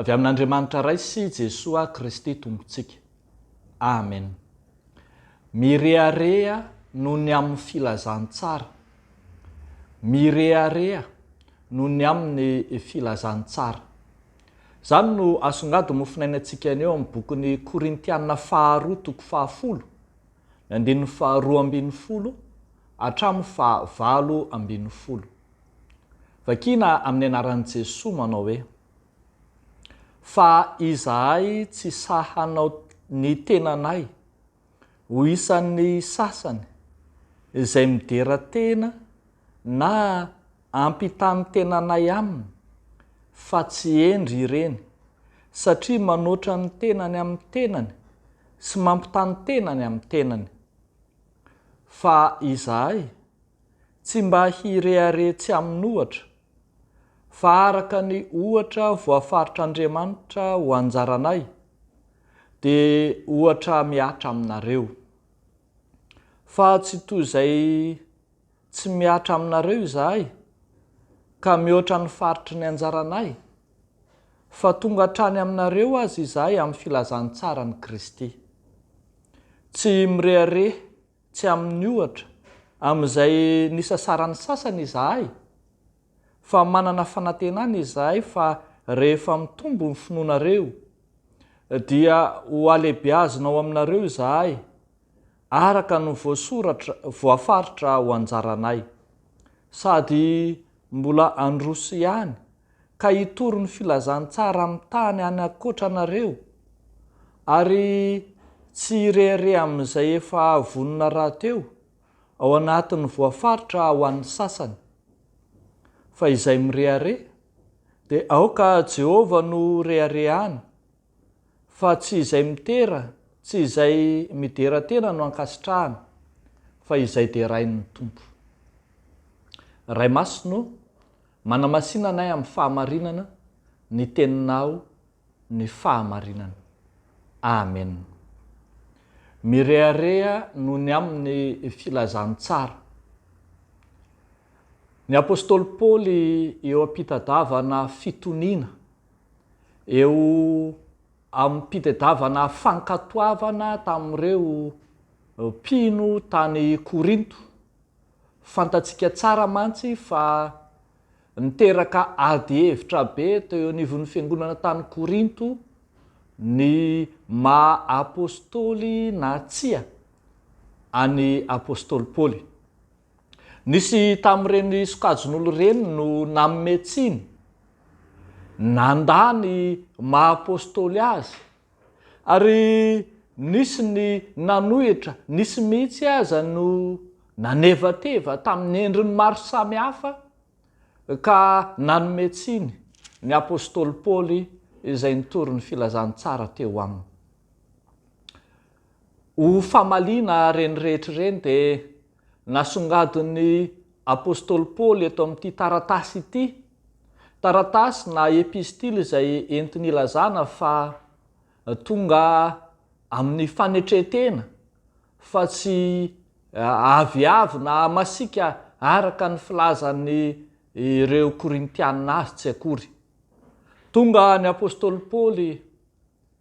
Avy amin'Andriamanitra Ray sy Jesoa Kristy Tompontsika. Amen. Mirehareha noho ny amin'ny filazantsara. Mirehareha noho ny amin'ny filazantsara. Izany no asongadin'ny mofonainantsika anio amin'ny bokin'ny Korintiana faharoa toko fahafolo, ny andininy faharoa ambin'ny folo hatramin'ny fahavalo ambin'ny folo. Vakina amin'ny anaran'i Jesoa manao hoe, Fa izahay tsy sahy hanao ny tenanay ho isan'ny sasany izay midera tena na ampitan'ny tenanay aminy fa tsy hendry ireny satria manoatra ny tenany amin'ny tenany sy mampitany tenany amin'ny tenany fa izahay Tsy mba hirehareha tsy amin'ohatra, fa araka ny ohatra voafaritr'Andriamanitra ho anjaranay, dia ohatra mihatra aminareo. Fa tsy toy izay tsy mihatra aminareo izahay, ka mihoatra ny faritry ny anjaranay, fa tonga hatrany aminareo aza izahay amin'ny filazantsaran'i Kristy. Tsy mirehareha Tsy amin'ny ohatra amin'izay nisasaran'ny sasany izahay, fa manana fanantenana izahay fa rehefa mitombo ny finoanareo, dia hohalehibeazina ao aminareo izahay, araka ny voasoratra, voafaritra ho anjaranay. Sady mbola handroso ihany ka hitory ny filazantsara amin'ny tany any ankoatra anareo, ary tsy hirehareha amin'izay efa vonona rahateo ao anatin'ny voafaritra ho an'ny sasany. Fa izay mirehareha, dia aoka Jehovah no reharehany, fa tsy izay mitera, tsy izay midera tena no ankasitrahany, fa izay derain'ny Tompo. Ray Masina ô, Manamasina anay amin'ny fahamarinana ny teninao ny fahamarinana. Amen. Mirehareha noho ny amin'ny filazantsara. Ny apostoly Paoly eo am-pitadavana fitoniana, eo am-pitedavana fankatoavana tamin'ireo mpino tany Korinto. Fantatsika tsara mantsy fa niteraka ady hevitra be teo eo anivon'ny fiangonana tany Korinto ny maha apostoly na tsia an'i apostoly Paoly. Nisy tamin'ireny sokajin'olona ireny no nanome tsiny nandà ny maha apostoly azy Ary nisy ny nanohitra, nisy mihitsy aza no nanevateva tamin'ny endriny maro samihafa ka nanome tsiny ny apostoly Paoly izay nitory ny filazantsara teo aminy. Ho famaliana ireny rehetra ireny dia Nasongadin'ny apostoly Paoly eto amin'ity taratasy ity, taratasy na epistily izay entiny ilazana fa tonga amin'ny fanetren-tena fa tsy aviavy na masiaka araka ny filazan'ny ireo Korintiana azy tsy akory. Tonga ny apostoly Paoly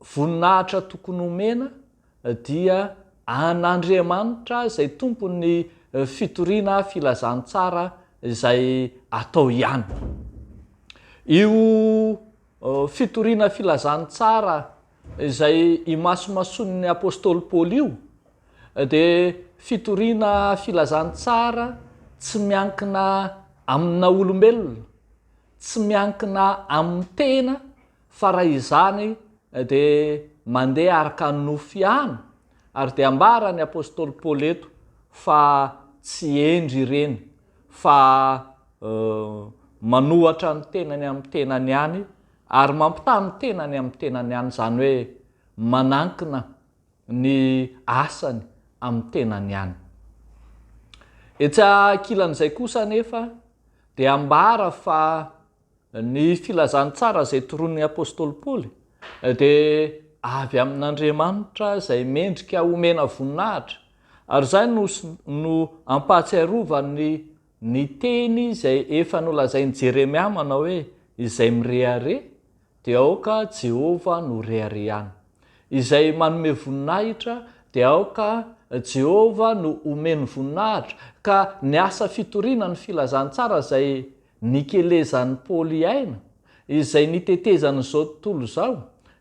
Voninahitra tokony homena dia an' Andriamanitra izay tompon' ny fitoriana filazantsara izay atao ihany. Io fitoriana filazantsara izay imasomasoan' ny apostoly Paoly io dia fitoriana filazantsara tsy miankina amin' na olombelona, tsy miankina amin' ny tena Fa raha izany dia mandeha araka ny nofo ihany, ary dia ambara ny apostoly Paoly eto fa tsy hendry ireny fa manohatra ny tenany amin'ny tenany ihany ary mampitaha ny tenany amin'ny tenany ihany, izany hoe manankina ny asany amin'ny tenany ihany. Etsy ankilan'izay kosa anefa dia ambara fa. Ny filazantsara izay toronin'ny apostoly Paoly dia avy amin'Andriamanitra izay mendrika omena voninahitra, ary izay no no ampahatsiarovany ny teny izay efa nolazain'i Jeremia manao hoe, Izay mirehareha, dia aoka Jehovah no reharehany. Izay manome voninahitra, dia aoka Jehovah no omeny voninahitra. Ka ny asa fitoriana ny filazantsara izay Nikelezan'i Paoly i Aina, izay nitetezan'izao tontolo izao,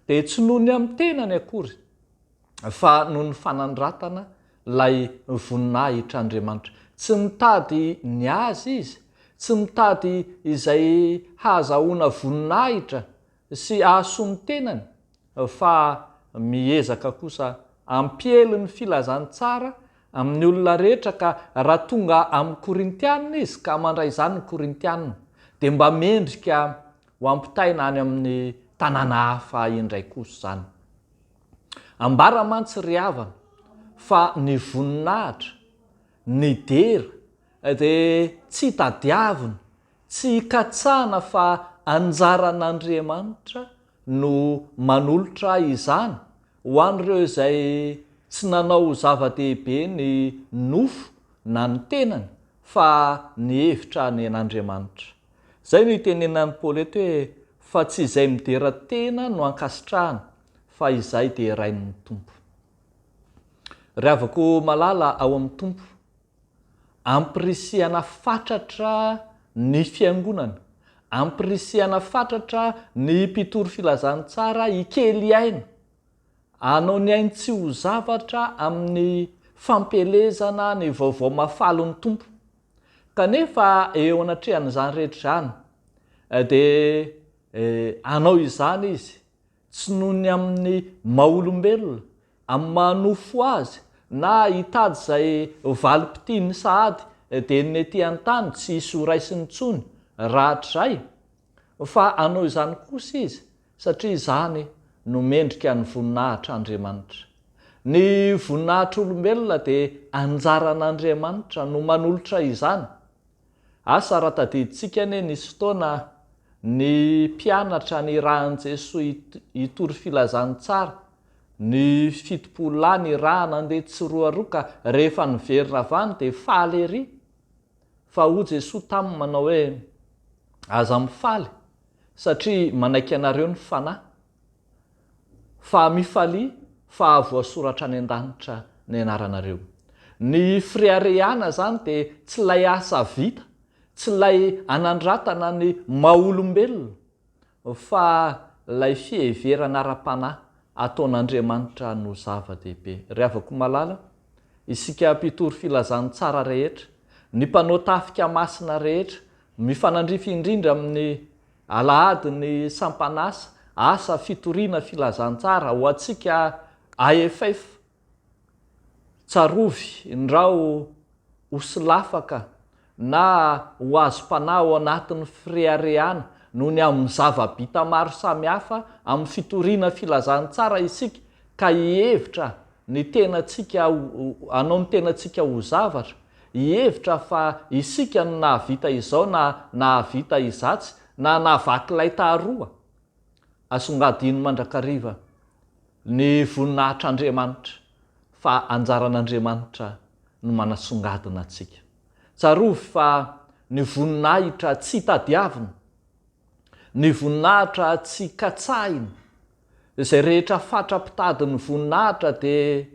dia tsy noho ny amin'ny tenany akory, fa noho ny fanandratana ilay voninahitr'Andriamanitra. Tsy mitady ny azy izy, tsy mitady izay hahazahoana voninahitra sy ahasoa ny tenany fa miezaka kosa ampiely ny filazany tsara amin'ny olona rehetra ka raha tonga amin'ny Korintiana izy ka mandray izany ny Korintiana dia mba mendrika ho ampitaina any amin'ny tanàna hafa indray kosa izany. Ambara mantsy ry havana fa ny voninahitra, ny dera dia tsy tadiavina Tsy hikatsahana fa anjaran'Andriamanitra no manolotra izany ho an'ireo izay tsy nanao ho zava-dehibe ny nofo na ny tenany fa nihevitra any an'Andriamanitra. Izay no itenenan'i Paoly eto hoe fa tsy izay midera tena no ankasitrahana fa izay derain'ny Tompo. Ry havako malala ao amin'ny Tompo. Ampirisihana fatratra ny Fiangonana, ampirisihana fatratra ny mpitory filazantsara hikely aina, hanao ny ainy tsy ho zavatra amin'ny fampielezana ny vaovao mahafalin'ny Tompo. Kanefa eo anatrehan'izany rehetra izany dia hanao izany izy tsy noho ny amin'ny maha-olombelona, amin'ny maha-nofo azy, na hitady izay valim-pitiany sahady dia ny ety an-tany tsy hisy ho raisiny intsony rahatrizay, fa hanao izany kosa izy satria izany no mendrika ny voninahitr'Andriamanitra. Ny voninahitr'olombelona dia anjaran'Andriamanitra no manolotra izany. Asa raha tadidintsika anie nisy fotoana ny mpianatra nirahan'i Jesoa hitory filazany tsara, ny fitopolo lahy nirahana handeha tsiroaroa ka rehefa niverina avy any dia faly ery. Fa hoy Jesoa taminy manao hoe, Aza mifaly, satria manaiky anareo ny Fanahy. fa mifalia fa voasoratra any an-danitra ny anaranareo. Ny fireharehana zany dia tsy ilay asa vita, tsy ilay anandratana ny maha olombelona, fa ilay fiheverana ara-panahy ataon'Andriamanitra no zava-dehibe. Ry havako malala, isika mpitory filazantsara rehetra, ny mpanao tafika masina rehetra, mifanandrify indrindra amin'ny Alahady ny sampan'asa, asa fitoriana filazantsara ho antsika AFF, tsarovy ndrao ho solafaka na ho azom-panahy ao anatin'ny fireharehana noho ny amin'ny zava-bita maro samihafa amin'ny fitoriana filazantsara isika ka hihevitra ny tenantsika ho, hanao ny tenantsika ho zavatra, hihevitra fa isika no nahavita izao na nahavita izatsy, na nahavaky lay taharoa. Asongadino mandrakariva ny voninahitr'Andriamanitra fa anjaran'Andriamanitra ny manasongadina antsika. Tsarovy fa ny voninahitra tsy tadiaviny, ny voninahitra tsy katsahiny, Izay rehetra fatra mpitady ny voninahitra dia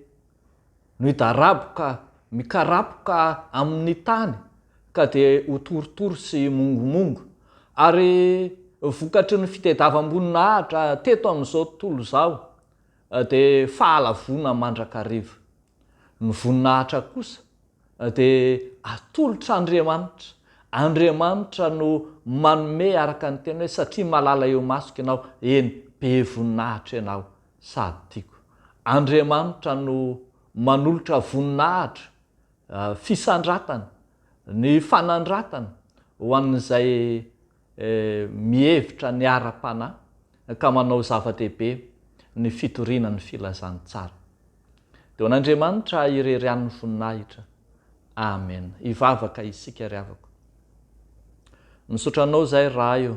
noidaraboka mikarapoka amin' ny tany ka dia ho torotoro sy mongomongo. Ary vokatry ny fitedavamboninahitra teto amin' izao tontolo izao dia fahalavoana mandrakariva. Ny voninahitra kosa dia atolotra Andriamanitra, Andriamanitra no manome araka ny teny hoe satria malala eo masoko ianao, eny, be voninahitra ianao sady tiako. Andriamanitra no manolotra voninahitra, fisandratana, ny fanandratana ho an'izay mihevitra ny ara-panahy ka manao zava-dehibe ny fitoriana ny filazantsara. Dia ho an'Andriamanitra irery ihany ny voninahitra. Amena. Hivavaka isika ry havako. Misaotra anao izay Ray o.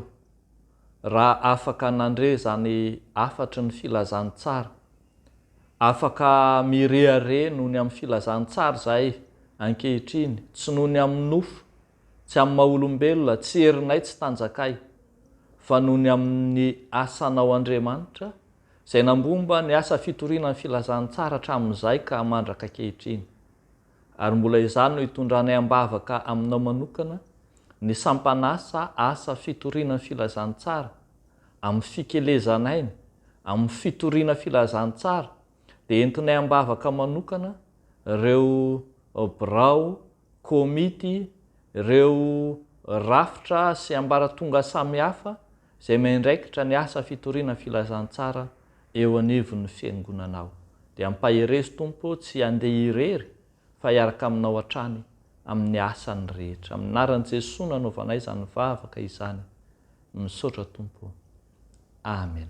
Raha afaka nandre izany hafatry ny filazantsara, afaka mirehareha noho ny amin'ny filazantsara izahay ankehitriny, tsy noho ny amin'ny nofo, Tsy amin'ny maha olombelona, tsy herinay, tsy tanjakay, fa noho ny amin'ny asanao Andriamanitra, izay nambomba ny asa fitoriana ny filazantsara hatramin'izay ka mandraka ankehitriny. Ary mbola izany no itondranay am-bavaka aminao manokana, ny sampan'asa asa fitoriana ny filazantsara, amin'ny fikelezanainy, amin'ny fitoriana filazantsara, dia entinay am-bavaka manokana ireo birao Komity, ireo rafitra sy ambaratonga samihafa izay miandraikitra ny asa fitoriana filazantsara eo anivon'ny Fiangonanao. Dia ampaherezo Tompo tsy handeha irery fa hiaraka aminao hatrany amin'ny asany rehetra. Amin'ny anaran'i Jesoa no anaovanay izany vavaka izany. Misaotra Tompo. Amen.